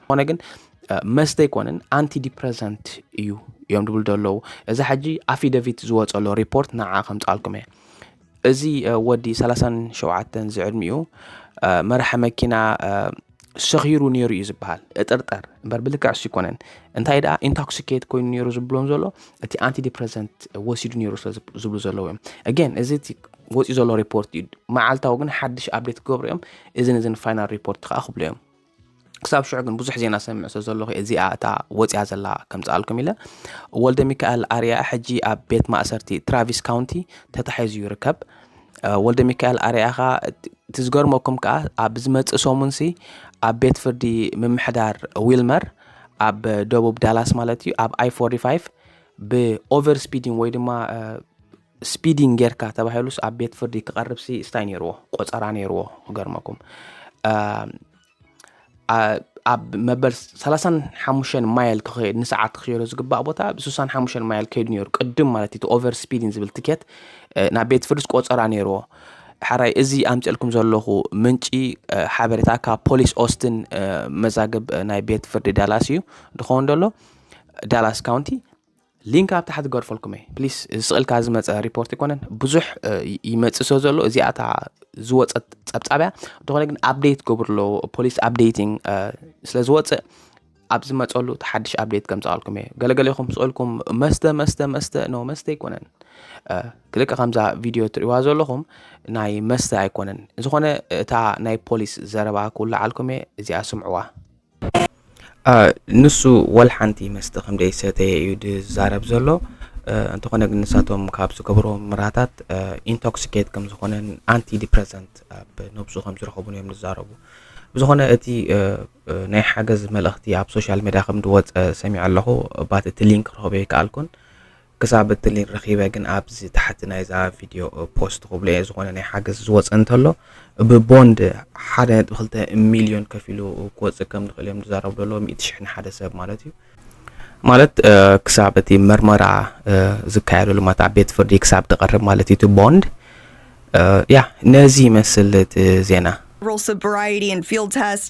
ዝኾነ ግን መስተ ኣይኮነን ኣንቲ ዲፕረሰንት እዩ እዮም ድብሉ ዘለዉ እዚ ሓጂ ኣፊደቪት ዝወፀሎ ሪፖርት ንዓ ከምፃልኩም እየ እዚ ወዲ 37 ዝዕድሚኡ መራሒ መኪና ሰኺሩ ነይሩ እዩ ዝበሃል እጥርጠር እምበር ብልክዕ ሱ ይኮነን እንታይ ደኣ ኢንቶክሲኬት ኮይኑ ነይሩ ዝብሎም ዘሎ እቲ ኣንቲ ዲፕረሰንት ወሲዱ ነይሩ ስለዝብሉ ዘለዉ እዮም ኣገን እዚ እቲ ወፂኡ ዘሎ ሪፖርት እዩ መዓልታዊ ግን ሓድሽ ኣብዴት ክገብሩ እዮም እዝን እዝን ፋይናል ሪፖርት ከዓ ክብሉ እዮም ክሳብ ሽዑ ግን ብዙሕ ዜና ሰምዕ ስለ ዘለኹ እዚኣ እታ ወፅያ ዘላ ከምፅኣልኩም ኢለ ወልደ ሚካኤል ኣርያ ሕጂ ኣብ ቤት ማእሰርቲ ትራቪስ ካውንቲ ተታሒዙ ይርከብ ወልደ ሚካኤል ኣርያ ኸዓ እቲ ዝገርመኩም ከዓ ኣብ ዝመፅእ ሰሙን ሲ ኣብ ቤት ፍርዲ ምምሕዳር ዊልመር ኣብ ደቡብ ዳላስ ማለት እዩ ኣብ ኣይ 45 ብኦቨር ስፒዲን ወይ ድማ ስፒዲንግ ጌርካ ተባሂሉስ ኣብ ቤት ፍርዲ ክቐርብሲ ስታይ ነይርዎ ቆፀራ ነይርዎ ክገርመኩም ኣብ መበል 35 ማይል ክኸድ ንሰዓት ክኸዶ ዝግባእ ቦታ ብ 65 ማይል ከይዱ ነይሩ ቅድም ማለት እቲ ኦቨር ስፒድን ዝብል ትኬት ናብ ቤት ፍርድስ ቆፀራ ነይርዎ ሓራይ እዚ ኣምፅልኩም ዘለኹ ምንጪ ሓበሬታ ካብ ፖሊስ ኦስትን መዛግብ ናይ ቤት ፍርዲ ዳላስ እዩ ድኸውን ደሎ ዳላስ ካውንቲ ሊንክ ኣብ ታሕቲ ገርፈልኩም እየ ፕሊስ እዚ ስቕልካ ዝመፀ ሪፖርት ኣይኮነን ብዙሕ ይመፅእ ስለ ዘሎ እዚኣ እታ ዝወፀት ፀብፃብያ እንተኾነ ግን ኣብደይት ገብርሎ ፖሊስ ኣብደይቲንግ ስለ ዝወፅእ ኣብ ዝመፀሉ እቲ ሓድሽ ኣብደይት ከምፃኣልኩም እየ ገለገሌኹም ስቕልኩም መስተ መስተ መስተ ኖ መስተ ኣይኮነን ክልቀ ከምዛ ቪድዮ ትሪእዋ ዘለኹም ናይ መስተ ኣይኮነን ዝኾነ እታ ናይ ፖሊስ ዘረባ ክውላዓልኩም እየ እዚኣ ስምዕዋ ንሱ ወልሓንቲ መስተ ከም ዘይሰተየ እዩ ዝዛረብ ዘሎ እንተኾነ ግን ንሳቶም ካብ ዝገብርዎም ምራታት ኢንቶክሲኬት ከም ዝኾነን ኣንቲ ዲፕረሰንት ኣብ ነብሱ ከም ዝረኸቡን እዮም ዝዛረቡ ብዝኾነ እቲ ናይ ሓገዝ መልእኽቲ ኣብ ሶሻል ሜድያ ከም ዝወፀ ሰሚዐ ኣለኹ ባት እቲ ሊንክ ክረኽበ ይከኣልኩን ክሳብ እቲ ሊን ረኪበ ግን ኣብዚ ታሕቲ ናይዛ ቪድዮ ፖስት ክብሎ እየ ዝኾነ ናይ ሓገዝ ዝወፀ እንተሎ ብቦንድ ሓደ ነጥቢ ክልተ ሚልዮን ከፊሉ ክወፅእ ከም ዝኽእል እዮም ዝዛረቡ ዘለዎ ሚእቲ ሽሕ ንሓደ ሰብ ማለት እዩ ማለት ክሳብ እቲ መርመራ ዝካየደሉ ማለት ኣብ ቤት ፍርዲ ክሳብ ዝቐርብ ማለት እዩ እቲ ቦንድ ያ ነዚ ይመስል እቲ ዜና Rural Sobriety and Field Test